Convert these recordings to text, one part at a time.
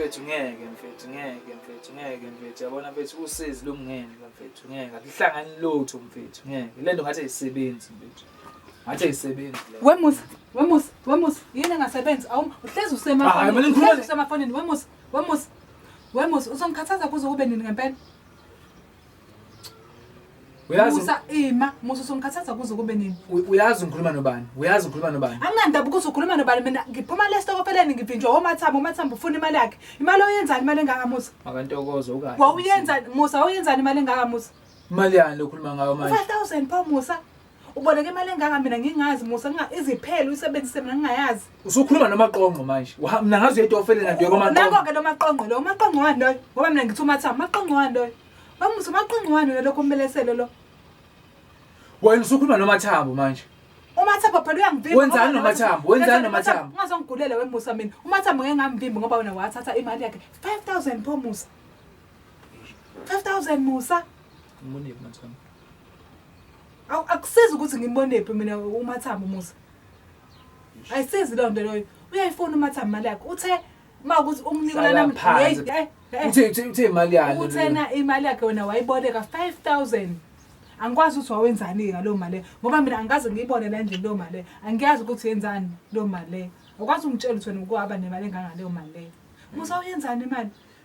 mfethu ngeke mfethu ngeke mfethu ngeke mfethu yabona mfethu usizi lomngeni mfethu ngeke akuhlangani lutho mfethu ngeke le nto ngathi ayisebenzi mfethu Ngathi ayisebenzi. Wemusa, wemusa, wemusa. Yini engasebenzi? Awu, uhlezi usemafonini. Uhlezi usemafonini. Wemusa, wemusa. Wemusa, uzongikhathaza kuze kube nini ngempela? Uyazi Musa ima, Musa usongikhathaza kuze kube nini? Uyazi ngikhuluma nobani? Uyazi ngikhuluma nobani? Anginandaba ukuthi ukhuluma nobani mina ngiphuma le stokofeleni ngivinjwa omathamba omathamba ufuna imali yakhe. Imali oyenzani imali engaka Musa? Makantokozo ukahle. Wawuyenzani Musa wawuyenzani imali engaka Musa? Imali yani lokhuluma ngayo manje? 5000 pho Musa. Uboleke imali engaka mina ngingazi Musa nginga iziphele usebenzise mina ngingayazi. Usukhuluma nomaqonqo manje. Wa mina ngazi uyetofele na dweko maqonqo. Nako ke nomaqonqo lo maqonqo wani loyo? Ngoba mina ngithi umatha maqonqo wani loyo? Wamusa umaqonqo wani lo lokho umbelesele lo? Wena usukhuluma nomathambo manje. umathambo phela uyangivimba wenzani nomathambo wenzani nomathambo ungazongigulela wemusa mina umathambo ngeke ngamvimbi ngoba wena wathatha imali yakhe 5000 pho musa 5000 Musa. Umbone phi mathamba? Awu akusizi ukuthi ngimbone phi mina umathamba Musa. Ayisizi lo nto loyo. Uyayifuna umathamba imali yakhe. Uthe makuthi umnika Hlala nami. phansi. Hey, hey, hey. Uthe uthe uthe imali yani. uthena imali yakhe wena wayiboleka 5000 angikwazi ukuthi wawenzani ngalo mali ngoba mina angikaze ngiyibone la endlini leyo mali angiyazi ukuthi yenzani leyo mali akwazi ungitshela ukuthi wena ukuhaba nemali engangaleyo mali musa uyenzani imali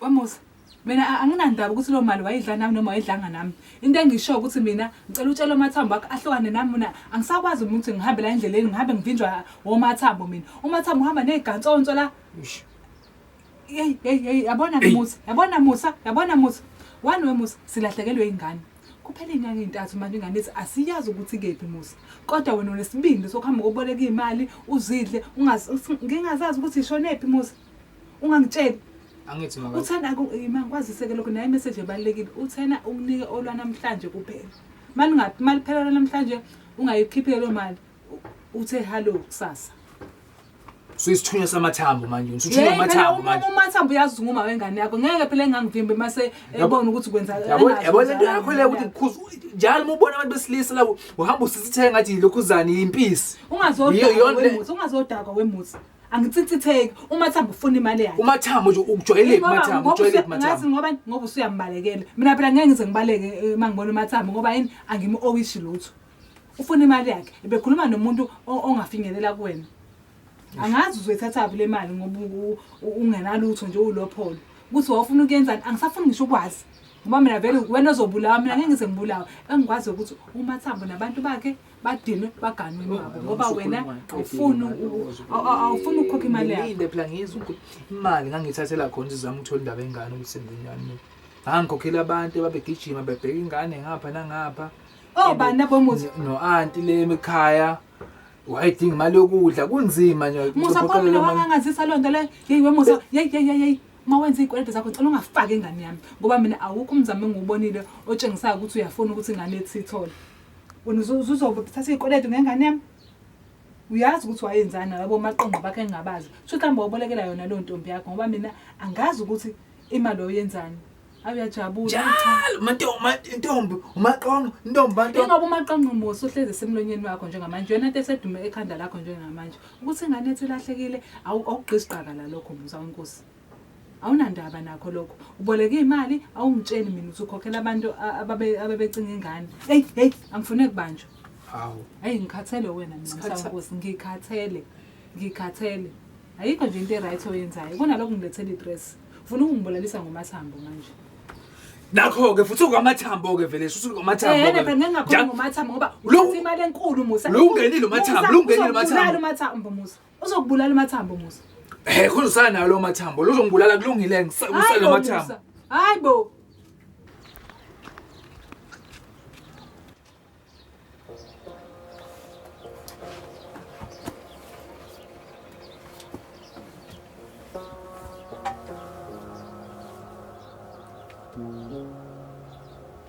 Wamusa, mina a- anginandaba ukuthi loo mali wayidla nami noma wayidlanga nami. Into engisho ukuthi mina ngicela utshele umathambo wakho ahlukane nami mina angisakwazi mina ukuthi ngihambe la endleleni ngihambe ngivinjwa womathambo mina. Umathambo uhamba ney'gantsonso la. Eish. Yeyi, yeyi, yeyi, yabona ke Musa, yabona Musa, yabona Musa. Wani we Musa, silahlekelwe ingane. Kuphela iy'nyanga ey'ntathu manje ingane ithi asiyazi ukuthi kephi Musa. Kodwa wena unesibindi sokuhamba koboleka iy'mali, uzidle, ungazi- ngingazazi ukuthi ishonephi Musa. ungangitsheli angithi maka uthena mangikwaziseke lokho naye message ebalekile uthena ukunike olwanamhlanje kuphela malingathi maliphela namhlanje ungayikhiphile lo mali uthe hello kusasa suyisithunywa samathambo manje usuthunywa amathambo manje uma amathambo uyazi nguma wengane yakho ngeke phela engangivimbe mase ebona ukuthi kwenza yabona yabona into yakho le ukuthi ngikhuza njalo uma ubona abantu besilisa la uhamba usisithenga ngathi lokhu zani impisi ungazodakwa wemuthi ungazodakwa wemuthi Angitsitsitheki uMathamba ufuna imali yakhe. Umathamo nje ukujwayeleki Ngoba- umathamo ngoba ujwayeleki usuya- ngathi umathamo ngoba ngoba usuyambalekela mina phela ngeke ngize ngibaleke eh, uma ngibona umathamba ngoba yini angimu-owishi lutho ufuna imali yakhe bekhuluma nomuntu o- ongafinyelela kuwena angazi uzoyithathaphi le mali ngoba u- u- ungenalutho nje uwulopholo ukuthi wawufuna ukuyenzani angisafuni ngisho ukwazi ngoba mina vele wena ozobulawa mina ngeke ngize ngibulawe engikwazi ukuthi umathambo nabantu bakhe badinwe baganwe nabo ngoba wena awufuni awufuni ukukhokha imali yakho phela ngizwa ukuthi imali ngangithathela khona izizama ukuthola indaba engane ukuthi senzenjani ngangikhokhela abantu ababegijima bebheka ingane ngapha nangapha oh bana bomuzi no anti le ekhaya wayidinga imali yokudla kunzima nje musa phambi wangangazisa loo nto le yeyi wemusa yeyi yeyi yeyi uma wenza iy'kweletu zakho ngicela ungafaki ingane yami ngoba mina awukho umzamo engiwubonile otshengisayo ukuthi uyafuna ukuthi ingane ethi ithole wena uzothatha iy'kweletu ngengane yami uyazi ukuthi wayenzani nalabo maqondo bakhe engingabazi kusho ukuthi hamba wabolekela yona leyo ntombi yakho ngoba mina angazi ukuthi imali oyenzani awuyajabula njalo mantombi intombi umaqondo intombi bantu ingoba umaqondo musa uhlezi esemlonyeni wakho njengamanje yona into esedume ekhanda lakho njengamanje ukuthi ingane ethi ilahlekile awugqisi gqaka la lokho musa wenkosi Awunandaba nakho lokho. Uboleke imali awungitsheli mina ukuthi ukhokhela abantu a- ababe abebecinga ingane. Hey hey angifune kubanjwa. Hawu. Hey ngikhathele wena mina Sikhatha- msankosi ngikhathele. Ngikhathele. Ayikho nje into eright oyenzayo. Kunalokho ngilethela idress. Ufuna ukungibulalisa ngomathambo manje. Nakho ke futhi ungamathambo ke vele shuthi ungamathambo. Eh, ke. phela ngingakhuluma Ja- ngomathambo ngoba Lo- uthatha imali enkulu Musa. Lo ungenile umathambo, Musa, lo ungenile uzokubulala umathambo. umathambo Musa. Uzokubulala amathambo Musa. Hey khona usanayo lo mathambo. Lozongibulala kulungile ngisale mathambo. Hayi bo.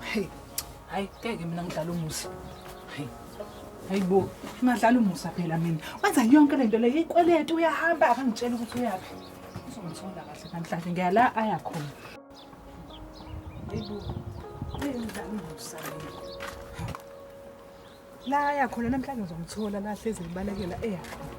Hey, hayi ngeke mina ngidlala umusa. Hey. Hayibo, ngadlala umusa phela mina. Wenza yonke lento le ikweletu uyahamba akangitshela ukuthi uyaphi. Uzongithola kahle namhlanje ngiya la aya khona. Hayibo. Ngidlala umusa. La aya khona namhlanje uzomthola la hlezi ngibalekela eya khona.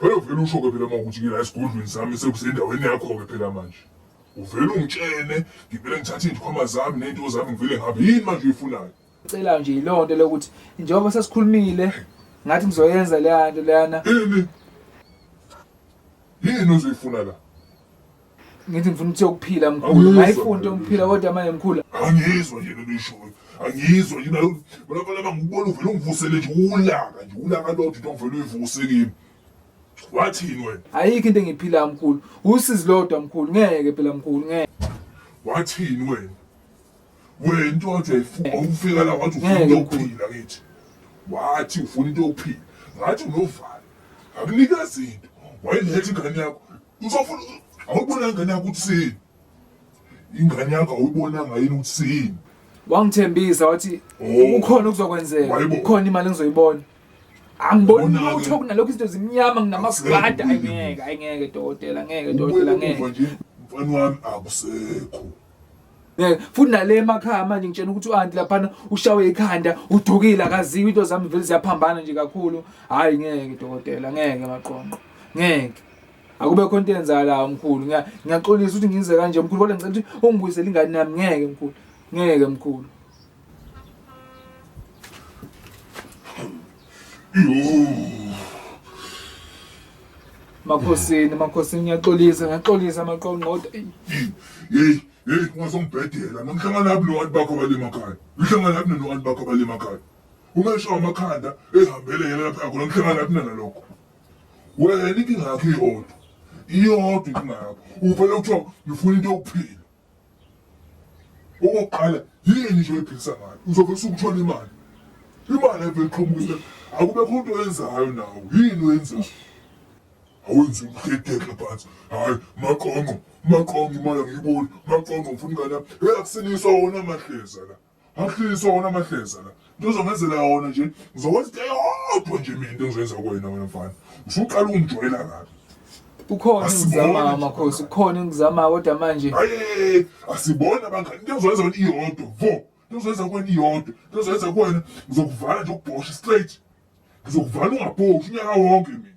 Phela uvele usho-ke phela uma ukuthi ngila esigodlweni sami sekusendaweni yakho-ke phela manje. Uvele ungitshene, ngivele ngithathe iy'ndikhwama zami ney'nto zami ngivele ngihambe. Yini manje oyifunayo? Cela nje yiloo nto lokuthi njengoba sesikhulumile ngathi ngizoyenza leya nto leyana. Ini? Yini ozoyifuna la? ngithi ngifuna ukuthi yokuphila mkhulu ngayifunde umphila kodwa manje mkhulu angizwa nje lento ishoyo angizwa nje nayo balabala bangibona uvele ungivusele nje ulaka nje ulaka lodwa into ongivele uyivuse kimi wathini wena ayikho into engiyiphilayo mkhulu usizi lodwa mkhulu ngeke phela mkhulu ngeke wathini wena wento wathi uyayifuna ufika la wathi ufuna Ngeke, mkhulu. ukuphila kithi wathi ufuna into yokuphila ngathi unovalo akunika zinto wayiletha ingane yakho Uzofuna awubonanga na ukuthi sini? Ingane yakho awuyibonanga yini ukuthi sini? Wangithembisa wathi Oh. kukhona okuzokwenzeka. Wayibo- Kukhona imali engizoyibona. Angiboni Ubona-ke. lutho kunalokho izinto zimnyama nginamaskada Akusekho. ayingeke ayingeke dokotela ngeke dokotela Ubuye ngeke. uva nje mfana wami akusekho. Eh, futhi nale emakhaya manje ngitshena ukuthi u-anti laphana ushawe ikhanda udukile akaziwa into zami vele ziyaphambana nje kakhulu hhayi ngeke dokotela ngeke maqonqo ngeke akube khona into eyenzakalayo mkhulu ngiyaxolisa ukuthi ngize kanje mkhulu kodwa ngicela ukuthi ungibuyisele ingane yami ngeke mkhulu ngeke mkhulu Makhosini, makhosini ngiyaxolisa, ngiyaxolisa maqongqoda. Hey, hey, ungazongibhedela. Ngihlangana nabi nobantu bakho abale emakhaya. Ngihlangana nabi nobantu bakho abale emakhaya. Uma esho amakhanda ehambele yena lapha yakho, ngihlangana nabi nana lokho. Wena inkinga yakho iyodwa. Iyodwa inkinga yakho. Uvele kuthiwa ngifuna into yokuphila. Okokuqala yini nje oyiphilisa ngayo uzobe usukuthola imali imali evele iqhamuke akubekho into oyenzayo nawo yini oyenzayo awenzi umhedeke phansi hayi maqonqo maqonqo imali angiyiboni maqonqo ngifuna ingane yami eyakusiniswa wona amahleza la Ahlisa wona amahleza la. Into ozongenzela yona nje ngizokwenza into eyodwa nje mina into engizoyenza kuwena wena mfana. Usuqala ungijwayela kabi. Ukhona Asiboni. engizamayo makhosi, ukhona engizamayo kodwa manje Hayi asibona bangani into engizoyenza wena iyodwa. Vo. Into engizoyenza kuwena iyodwa. Into engizoyenza kuwena ngizokuvala nje ukubhosha straight. Ngizokuvala ungabhoshi unyaka wonke mina.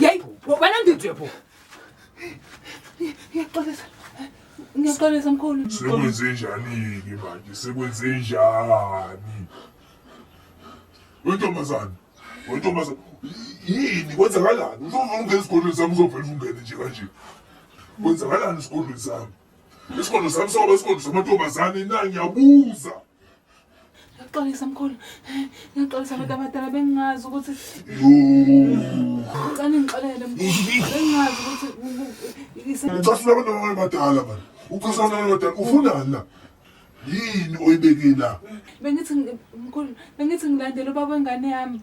Yey, wena ngithi yebo. Ngiyaxolisa. Ngiyaxolisa mkhulu. Sekwenze njani ke manje? Sekwenze njani? Wentombazane, wentombazane. Yini kwenzakalani? Uzovuma ungena esigodlweni sami uzovela ungene nje kanje. Kwenzakalani esigodlweni sami? Isigodlo sami soba isigodlo samantombazane na ngiyabuza. Ngiyaxolisa mkhulu. Ngiyaxolisa abantu abadala bengingazi ukuthi ngicela ngixolele mkhulu. Bengingazi ukuthi Ucasula abantu abadala bani? Ucasula abantu abadala ufunani la? Yini oyibeke la? bengithi ngi- mkhulu bengithi ngilandele ubaba wengane yami.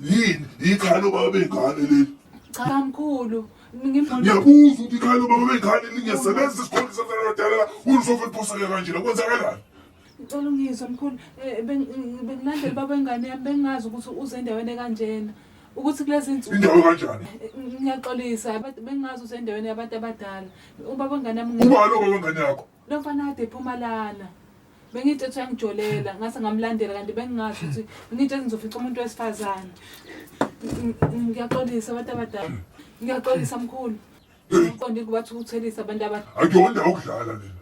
Yini? Ikhaya lobaba bengane leli. Cha mkhulu. Ngimbona Ngiyabuza ukuthi ikhaya lobaba bengane lingesebenza isikhonzi sabantu abadala la. Ulisofa liphoseke kanjena kwenzakalani? Ngicela ungizwe mkhulu eh, bengilandela baba wengane yami bengingazi ukuthi uze endaweni ekanjena ukuthi kulezi nsuku indawo kanjani eh, ngiyaxolisa bengingazi uze endaweni yabantu abadala ubaba wengane yami uba lo baba wengane yakho lo mfana kade ephuma lana bengithi ethi uyangijolela ngase ngamlandela kanti bengingazi ukuthi ngithi ngizofica umuntu wesifazane ngiyaxolisa abantu abadala ngiyaxolisa mkhulu ngiqonde ukuthi bathukutheliisa abantu abadala akuyona okudlala lena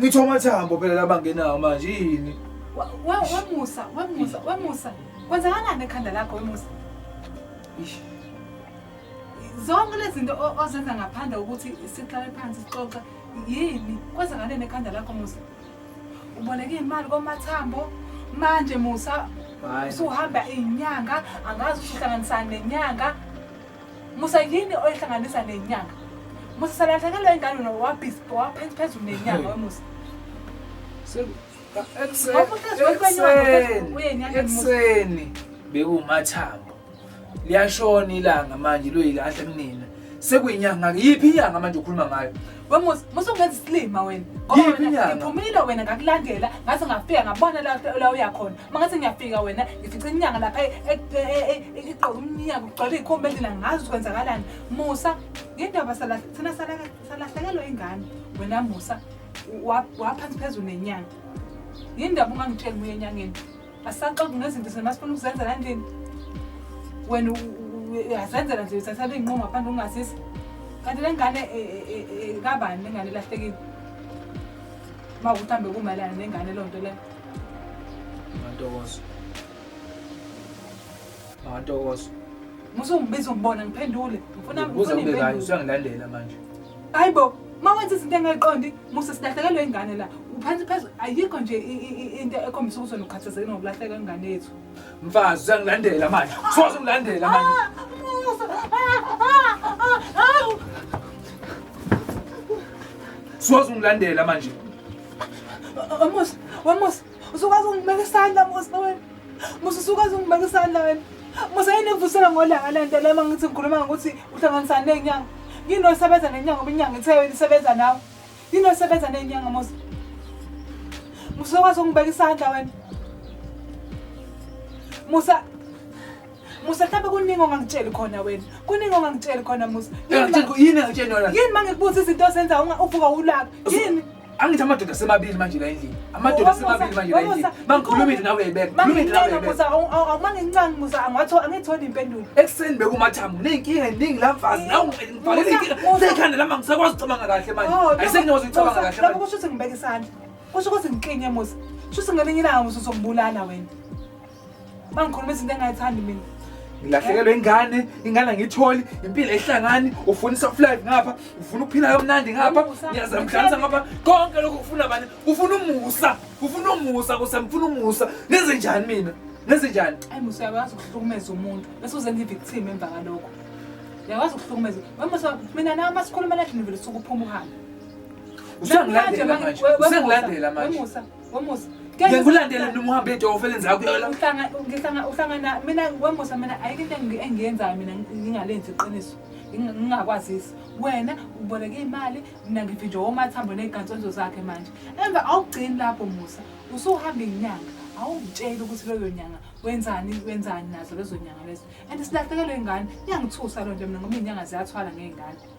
Ngitho amathambo phela labangenawo manje yini? Wemusa, wemusa, wemusa. Kwenzakalani ekhanda lakho wemusa? Ish. Zonke lezi zinto ozenza ngaphandle ukuthi sihlale phansi sixoxe yini? Kwenzakaleni ekhanda lakho musa? Uboleke imali komathambo manje musa usuhamba inyanga angazi uhlanganisana nenyanga musa yini oyihlanganisa nenyanga musa salahlekelwa ingane nowabhispo waphethi phezulu nenyanga wemusa ekuseni bekuwumathambo liyashona ilanga manje loyilahle kunina sekuyinyanga yiphi inyanga manje ukhuluma ngayo wemusa musa ungenza isilima wena ngoba wena iphumile wena ngakulandela ngaze ngafika ngabona la uya khona mangathi ngiyafika wena ngifica inyanga lapha e- e- e- e- e- igqoka umnyaka ugcwele iy'khomba endlela ngazi ukuthi kwenzakalani musa ngendaba sala- thina salaka- salahlekelwa ingane wena musa wa- waphansi phezulu nenyanga yini ndaba ungangitsheli muye enyangeni asaxoki ngezinto zina masifuna ukuzenzela endlini wena u- u- u- uyazenzela nje uthatha ley'nqumo ngaphandle ungazisi kanti le ngane e- e- e- e- kabani le ngane elahlekile uma ukuthi hambe kumayelana nengane loo nto leyo Ngantokozo. Ngantokozo. Musa ungibiza umbona ngiphendule. Ngifuna ngifuna impendulo. Usangilalela manje. Hayibo, uma wenza izinto engayiqondi, Musa silahlekelwe ingane la. Uphansi phezulu ayikho nje into ekhombisa ukuthi unokhathazeke nokulahleka ingane yethu. Mfazi usangilandela manje. Soze ungilandela manje. Ah, Musa. Soze ungilandela manje. Wamusa, wamusa, usukwazi ungibeka isandla musa wena. Musa usukwazi ungibeka isandla wena. Musa yini ekuvusela ngolanga le nto le uma ngithi ngikhuluma ngokuthi uhlanganisana ney'nyanga. Yini osebenza nenyanga ngoba inyanga ithe wena isebenza nawe. Yini osebenza ney'nyanga musa. Musa usukwazi ungibeka isandla wena. Musa Musa mhlawumbe kuningi ongangitsheli khona wena. Kuningi ongangitsheli khona Musa. Yini engitsheni yona? Yini mangikubuza izinto ozenza uvuka ulaka? Yini? angithi amadoda asemabili manje la endlini amadoda asemabili manje la endlini mangikhuluma into nawe yebeka khuluma into nawe yebeka awuma ngincane musa angatho angitholi impendulo ekuseni bekumathambo nezinkinga eziningi la mfazi nawe ngibhalele inkinga sekhanda lami angisakwazi ukucabanga kahle manje oh, ayisenyokwazi ukucabanga kahle manje kusho ukuthi ngibeke isandla kusho ukuthi ngiklinye musa kusho ukuthi ngelinye ilanga musa uzongibulala wena bangikhuluma izinto engayithandi mina ngilahlekelwe ingane ingane angiyitholi impilo ehlangani ufuna i-soft life ngapha ufuna ukuphila kamnandi ngapha ngiyazamhlanisa ngapha konke lokhu kufuna bani kufuna umusa kufuna umusa kuse ngifuna umusa ngenze njani mina ngenze njani ayi musa uyakwazi ukuhlukumeza umuntu bese uzenza i-victim emva kalokho uyakwazi ukuhlukumeza wemusa mina nawe uma sikhuluma lathi nivele suke uphuma uhambe usengilandela manje usengilandela manje Wamusa. Ngeke ngilandele mina uhambe edofo elenza kuyona. Uhlanga ngihlanga uhlangana mina wamusa mina ayike into engiyenzayo mina ngingalenzi iqiniso. Ngingakwazisi. Wena uboleke imali mina ngivinjwe omathambo nezigantsonzo zakhe manje. Emva awugcini lapho Musa. Usuhamba inyanga. Awungitsheli ukuthi leyo nyanga wenzani wenzani nazo lezo nyanga lezo. And silahlekelwe ingane. Iyangithusa loo nto mina ngoba izinyanga ziyathwala ngezingane.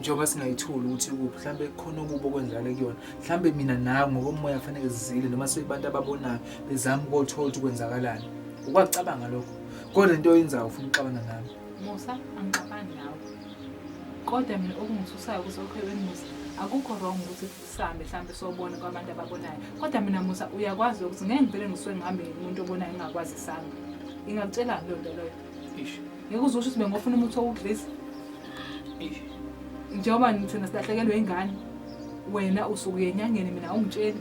njengoba singayitholi ukuthi ukuphi mhlawumbe kukhona okubi okwenzakale kuyona mhlawumbe mina nawe ngokomoya kufanele zizile noma sekubantu ababonayo bezama ukothola ukuthi kwenzakalani ukwakucabanga lokho kodwa into oyenzayo ufuna ukuxabana nami musa angixabani nawe kodwa mina okungithusayo ukuthi okhwebeni musa akukho wrong ukuthi sihambe mhlawumbe sobona kwabantu ababonayo kodwa mina musa uyakwazi ukuthi ngeke ngivele ngisuke ngihambe ngumuntu obonayo ingakwazi isanga ingakutshelani loo nto loyo ngeke uzosho ukuthi bengofuna umuthi owugilisa njengoba thina silahlekelwe ingane wena usuke uyenyangeni mina ungitsheli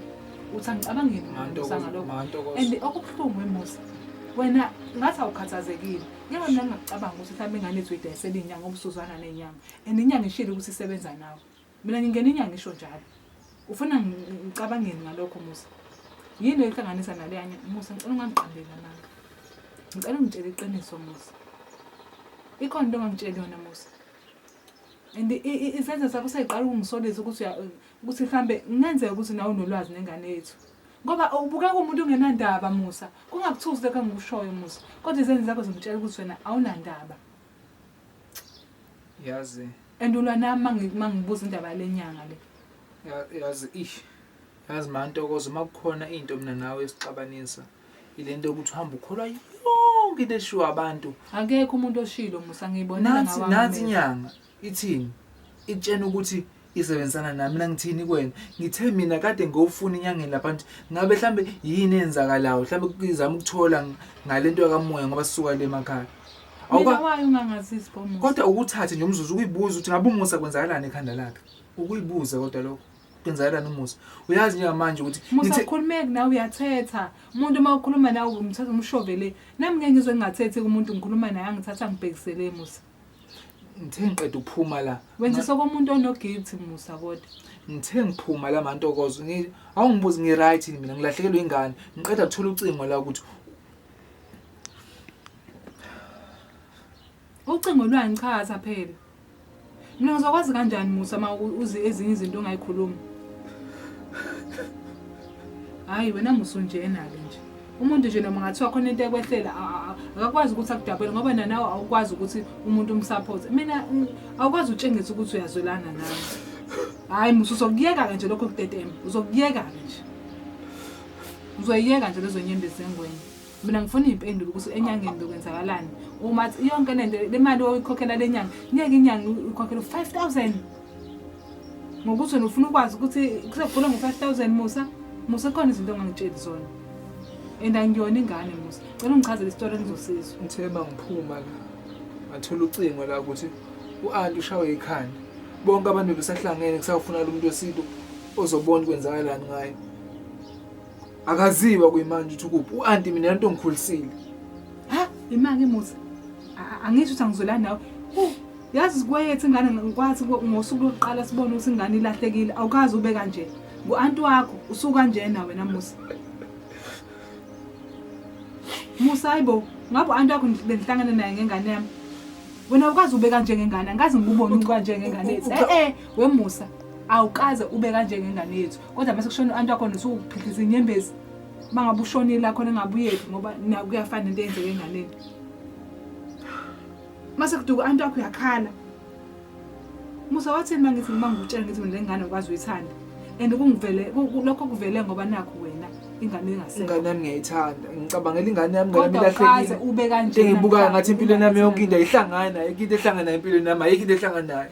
uthi angicabangeni ngalokho and okubuhlungu emusa wena ngathi awukhathazekile njengoba mina ngingacabanga ukuthi mhlawumbe ingane ethu idayisela inyanga obusuzwana nenyanga and inyanga ishile ukuthi isebenza nawe Mina ngingena inyanga isho njalo. Ufuna ngicabangeni ngalokho Musa? Yini ehlanganisa naleya Musa ngicela ungangiqambeli amanga. Ngicela ungitshele iqiniso Musa. Ikhona into ongangitsheli yona Musa. And isenzo sakho seyiqala ukungisolisa ukuthi ukuthi mhlambe kungenzeka ukuthi nawe unolwazi nengane yethu. Ngoba ubukeka umuntu ongenandaba Musa. Kungakuthusi lokho engikushoyo Musa. Kodwa izenzo zakho zingitshela ukuthi wena awunandaba. yazi and ulwa nami mangi- mangibuza indaba yale nyanga le ya- yazi ish yazi mantokozo uma kukhona into mina nawe esixabanisa ile nto yokuthi uhambe ukholwa yonke into eshiwo abantu akekho umuntu oshilo musa ngiyibonela nathi ngawami nathi amehlo. inyanga ithini ikutshena ukuthi isebenzisana nami nangithini kwena ngithe mina kade ngofuna inyangeni lapha nje ngabe mhlambe yini enzakalayo mhlambe kuzama ukuthola ngalento yakamoya ngoba sisuka le emakhaya kodwa ukuthathe nje umzuzu ukuyibuza ukuthi ngabe umusa kwenzakalani ekhanda lakhe ukuyibuza kodwa lokho kwenzakalani umusa uyazi njengamanje ukuthi musa ukhulumeki nawe uyathetha umuntu uma ukhuluma nawe umthatha umshovele nami ngeke ngizwe ngingathethi kumuntu ngikhuluma naye angithatha ngibhekisele musa ngithe ngiqeda ukuphuma la wenzisa komuntu onoguilt musa kodwa ngithe ngiphuma la mantokozo awungibuzi ngi-right mina ngilahlekelwe ingane ngiqeda kuthola ucingo la ukuthi ucingo lwani cha asaphela mina ngizokwazi kanjani musa ma uzi ezinye izinto ongayikhulumi hhayi wena musa unjenake nje umuntu nje noma ngathiwa khona into ekwehlela akakwazi ukuthi akudabele ngoba nanawe awukwazi ukuthi umuntu umsupport mina mm, awukwazi utshengisa ukuthi uyazwelana nawe hhayi musa uzokuyeka-ke nje lokho kutetema uzokuyeka-ke nje uzoyiyeka nje lezo nyembezi zengwenye mina ngifuna iy'mpendulo ukuthi enyangeni bekwenzakalani uma yonke le nto le mali oyikhokhela le nyanga ngeke inyanga uyikhokhela u-five thousand ngokuthi wena ufuna ukwazi ukuthi kusegula ngo-five thousand musa musa khona izinto ongangitsheli zona and angiyona ingane musa cela ungichazele isitori engizosizwa ngithe uma ngiphuma la ngathola ucingo la ukuthi u-anti ushawe ikhanda bonke abantu bebesahlangene kusawufuna lo muntu wesintu ozobona kwenzakalani ngayo akaziwa kuyimanje ukuthi ukuphi u-anti mina lento ngikhulisile ha imake musa angisho ukuthi angizwelani nawe yazi zikwayethe ingane ngikwathi ngosuku lokuqala sibone ukuthi ingane ilahlekile awukazi ube kanje ngu-anti wakho usuke kanjena wena musa musa hayi bo ngabe u-anti wakho bengihlangane naye ngengane yami wena awukazi ube kanje ngengane angikazi ngikubone ucwa njengengane yethu e-e wemusa awukaze ube kanje ngengane yethu kodwa mase kushona u-anti wakhona usuwuphikisa inyembezi uma ngabe ushonile lakhona engabuyeli ngoba kuyafana into eyenzeke enganeni mase kuduka u-anti wakho uyakhala musa wathini uma ngithi ngiba ngikutshela ngithi mina lengane ukwazi uyithanda and kungivele lokho kuvele ngoba nakho wena ingane engasekho ingane yami ngiyayithanda ngicabangela ingane yami ngoba ilahlekile ube kanje ngibuka ngathi impilo yami yonke into ayihlangani ayikho into ehlangana empilweni yami ayikho into ehlanganayo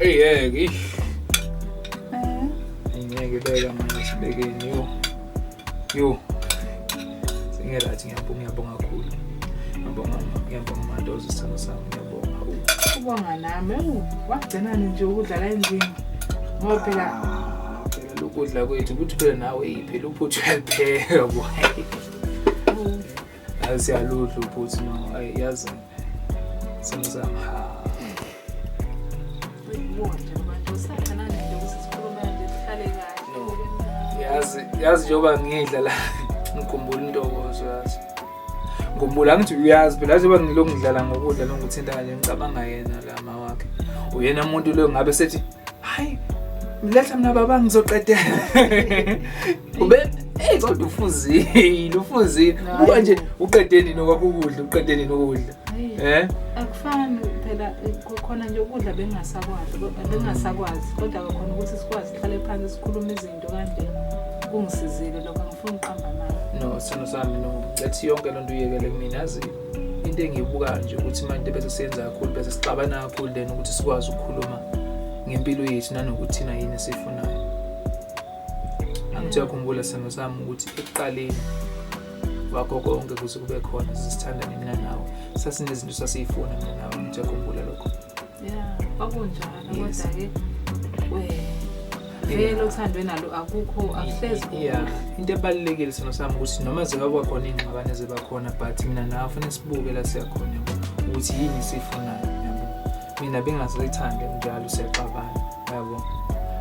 Eyeke. Eh. Ngeke beka manje sibekeni yo. Yo. Singerathi ngiyabonga ngiyabonga kakhulu. Ngiyabonga ngiyabonga madoza isithando sami ngiyabonga. Ubonga nami wagcinani nje ukudlala endlini. Ngoba phela ah, phela lokudla kwethu ukuthi phela nawe yiphela uphuthu uyapheka boy. Yazi siyaludla ubhuthi no ayi yazi simo sami ha. Yazi yazi njengoba ngidla la ngikhumbula intokozo yazi. Ngikhumbula ngithi uyazi phela njengoba ngilokhu ngidlala ngokudla nongithinta kanje ngicabanga yena la mawakhe. Uyena umuntu lo ngabe sethi hayi mletha mina baba ngizoqedela. ube hey kodwa ufuzile ufuzile ubuka nje uqede nini okwakho ukudla uqede nini ukudla eh akufani phela khona nje ukudla bengasakwazi bengasakwazi kodwa khona ukuthi sikwazi sihlale phansi sikhulume izinto kanje kungisizile lokho ngifuna uqamba mali no sino sami no ngathi yonke lento uyekele kumina yazi into engiyibukayo nje ukuthi manje bese siyenza kakhulu bese sixabana kakhulu then ukuthi sikwazi ukukhuluma ngempilo yethu nanokuthi thina yini esifunayo Angithiwa khumbula sithando sami ukuthi ekuqaleni wakho konke kuze kube khona sisithandane mina nawe sasinezinto sasiyifuna mina nawe angithiwa khumbula lokho ya kwakunjalo kodwa-ke vele othandwe nalo akukho akuhlezi ya into ebalulekile sona sami ukuthi noma zingaba khona iy'ngxabane ziba khona but mina nawe fanele sibuke la siyakhona ukuthi yini siyifunayo mina bengazoyithandi njalo siyaxabana yabo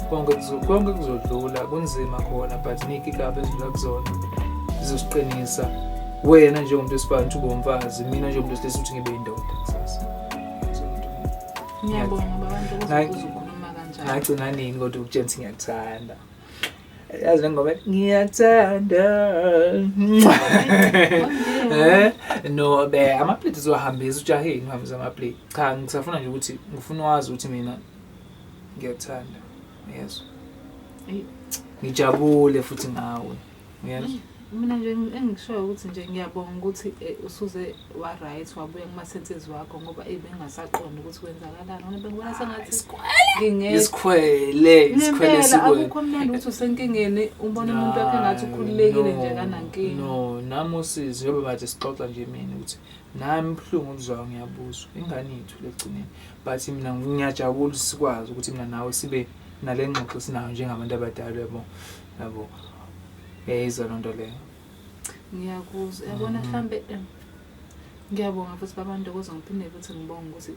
konke konke kuzodlula kunzima khona but niki kabe ezidlula kuzona zizosiqinisa wena njengomuntu wesifazane ukuthi ube umfazi mina njengomuntu wesilisa ukuthi ngibe indoda kusasa ngiyabonga babantu ukuthi ukhuluma kanjani ngagcina nini kodwa ukutshela ukuthi ngiyakuthanda yazi le ngoma ethi, ngiyathanda eh no be amaplate siwahambisa ujaheni uhambisa amaplate cha ngisafuna nje ukuthi ngifuna wazi ukuthi mina ngiyathanda yes Eyi. ngijabule futhi ngawe yes Mina nje engikushoyo ukuthi nje ngiyabonga ukuthi eh, usuze wa-right wabuya kuma-senses wakho ngoba eyi bengingasaqondi ukuthi kwenzakalani ngoba bengibona sengathi ngingekho isikhwele isikhwele ngempela sikwele akukho mnandi ukuthi usenkingeni umbona umuntu wakhe ngathi ukhululekile nje No, kanankinga no nami usizi yobe bathi sixoxa nje mina ukuthi nami ubuhlungu obuzwayo ngiyabuzwa ingane yethu lekugcineni but mina ngiyajabula ukuthi sikwazi ukuthi mina nawe sibe nale ngxoxo esinayo njengabantu abadala yabo yabo Yayizwa loo nto leyo. ngiyakuzwa yabona mhlambe em, ngiyabonga futhi baba ntokozo ngiphinde futhi ngibonge ukuthi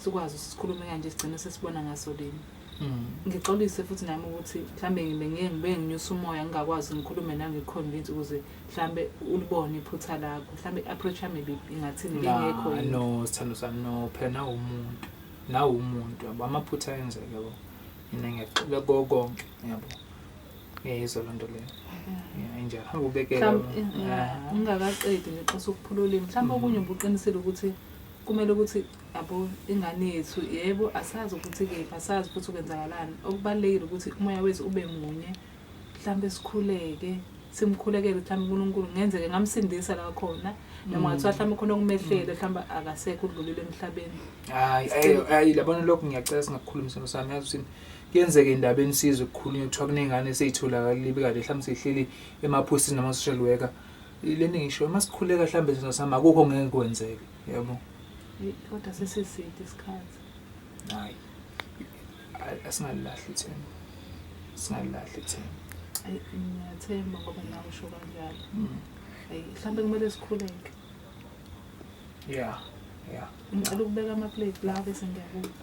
sikwazi ukuthi sikhulume kanje sigcine sesibona ngaso lini Mm. ngixolise futhi nami ukuthi mhlambe ngibe ngeke ngibe nginyusa umoya ngingakwazi ngikhulume nawe ngikhonvince ukuze mhlambe ulibone iphutha lakho mhlambe i-approach yami ibi- ingathini Nah, bengekho yini no sithando sami no phela nawe umuntu nawe umuntu yabo amaphutha ayenzeke yabo mina ngiyaxola konke yabo ngiyayizwa loo nto leyo Yeah, injalo hamba ubekele mhlawumbe Ah. ungakaqedi nje xa sokuphula ulimi mhlawumbe okunye ubuqinisile ukuthi kumele ukuthi yabo ingane yethu yebo asazi ukuthi kephi asazi futhi ukwenzakalani okubalulekile ukuthi umoya wethu ube munye mhlawumbe sikhuleke simkhulekele mhlawumbe unkulunkulu kungenzeke ngamsindisa la khona noma ngathiwa mhlawumbe khona okumehlele mhlawumbe akasekho udlulile emhlabeni hayi ayi- ayi labona lokho ngiyacela singakukhulumisana sami yazi ukuthi Kuyenzeka indaba enisizwe kukhulunywa kuthiwa kunengane eseyitholakala ibe kade mhlawumbe seyihleli emaphosini nama-social worker le nto engishoyo uma sikhuleka mhlawumbe izinto sami akukho ngeke kwenzeke yabo kodwa sesiside isikhathi hayi asingalilahli ithemba singalilahli ithemba ayi ngiyathemba ngoba nawe usho kanjalo mm. ayi mhlawumbe kumele sikhuleke ya ya ngicela ukubeka amaplate la bese ngiyabuka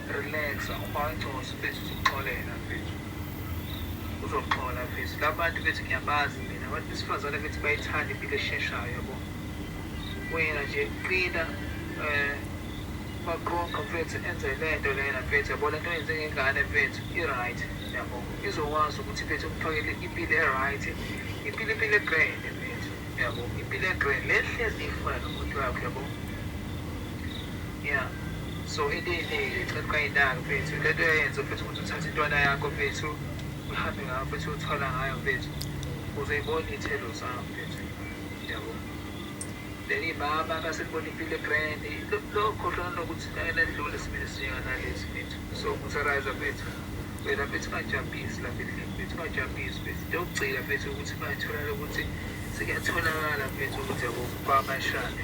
Relaxa ubaconsi mfethu uzoxolela mfethu. Uzoxola mfethu. Labantu bethi ngiyabazi mina. Abantu besifazane bethi bayithanda impilo esheshayo yabo. Wena nje qina eh baqoqa mfethu enze lento lena mfethu yabo lento yenze ngengane mfethu i-right yabo izokwazi ukuthi mfethu umfakele impilo e-right impilo impilo egrand mfethu yabo impilo egrand le hlezi ifuna nomuntu wakho yabo ya So ililile cha kungayinaki mfethu lento uyayenza mfethu ukuthi uthathe intwana yakho mfethu uhambe ngayo mfethu uthwala ngayo mfethu uzoyibona iy'thelo zayo mfethu yabo then imama kaselibona impilo egrand lokhohlwa nokuthi ayenedlule simile sinjenganalesi mfethu so ngusariza mfethu wena mfethu ungajampisi lapha endlini mfethu ungajampisi mfethu into yokugcina mfethu ukuthi bayitholala ukuthi sekuyatholakala mfethu ukuthi yabo kwamashane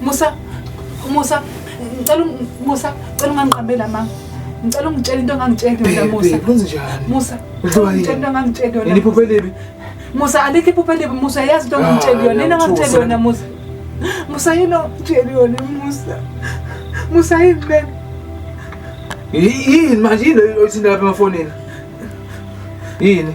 Musa, Musa, ngicela Musa, ngicela ungangiqambela mama. Ngicela ungitshele into ongangitsheli yona Musa. Kwenze njani? Musa, ngicela ungitshele into ongangitsheli yona. Nilipho phelibi. Musa, alikho iphupho elibi Musa, yazi into ongangitsheli ah, yona. Nina ngangitsheli yona Musa. Musa yini ongitsheli yona Musa? Musa yini ben? Yini manje yini oyithinda lapha emafonini? Yini?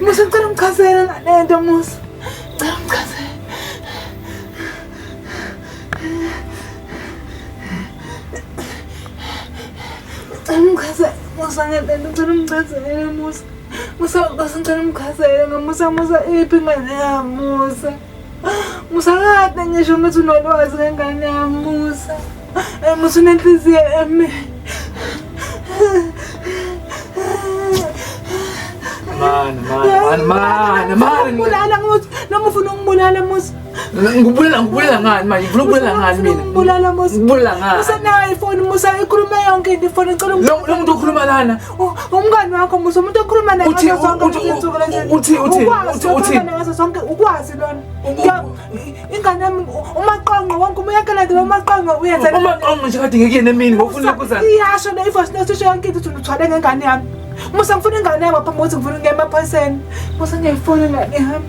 Musa ngicela ungichazele ngalento Musa. Ngicela ungichazele. Ngicela ungichazele Musa ngalento ngicela ungichazele Musa. Musa ngicela ungichazele ngamusa Musa iphi ingane yami Musa. Musa kade ngisho ngithi unolwazi ngengane yami Musa. Eh, Musa unenhliziyo eme. Man, man, man, man, man. Ngibulala Musa. Noma ufuna ungibulala Musa. Ngibulala ngibulala ngani manje? Ngifuna ukubulala ngani mina? Ngibulala Musa. Ngibulala ngani? Musa nayo ifoni Musa ikhuluma yonke into ifoni ngicela Lo muntu okhuluma lana. umngani wakho musa umuntu okhuluma naye ngazo zonke izinsuku lezi uthi uthi uthi uthi ngazo zonke ukwazi lona ingane yami umaqonqo wonke umuyakela nje umaqonqo uyenza umaqonqo nje kade ngekuyena emini ngofuna kuza iyasho le ivoice note isho yonke into uthwale ngengane yami musa ngifuna ingane yami apha musa ngifuna ngema phaseni musa ngiyifuna ingane yami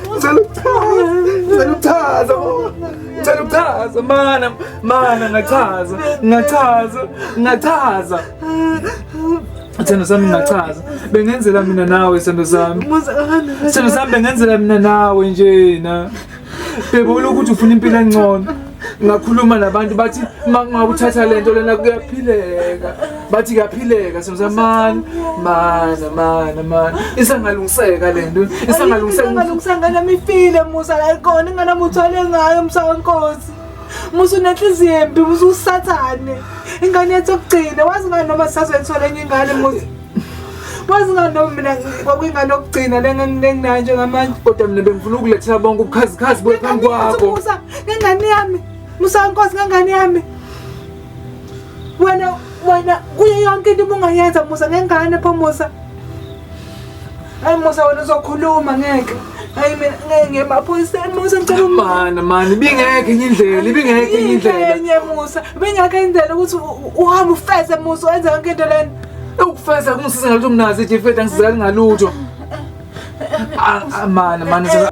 Ngichaza ngicela ukuchaza mana mana ngachaza ngachaza ngachaza Sithando sami ngachaza bengenzela mina nawe sithando sami Sithando sami bengenzela mina nawe njena Bebona ukuthi ufuna impilo engcono ngakhuluma nabantu bathi makungakuthatha lento lena kuyaphileka bathi kuyaphileka semzamani mana mana mana isangalungiseka lento isangalungiseka ngalungiseka ngana mifile musa la ikona ngana muthwale ngayo msawa nkosi musa unenhliziyo embi musa usathane ingane yethu okugcina wazi ngani noma sisazwethola enye ingane musa Wazinganoma mina kwakuyingane okugcina lenganginayo njengamanje. Kodwa mina bengifuna ukulethela bonke ubukhazikhazi buye phambi kwakho. Musa, ngengane yami. Musa Nkosi ngengane yami. Wena wena kuyo yonke into ubungayenza Musa ngengane pho Musa. Hayi Musa wena uzokhuluma ngeke. Hayi mina ngeke ngemaphoyiseni Musa ngicela umana mani bingeke enye indlela ibingeke enye indlela. Enye Musa bingeke indlela ukuthi uhambe ufeze Musa wenza yonke into lena. Ewukufeza kungisiza ngalutho mnazi nje mfethu angisizakali ngalutho. Ah, ah, Mana mana sasa-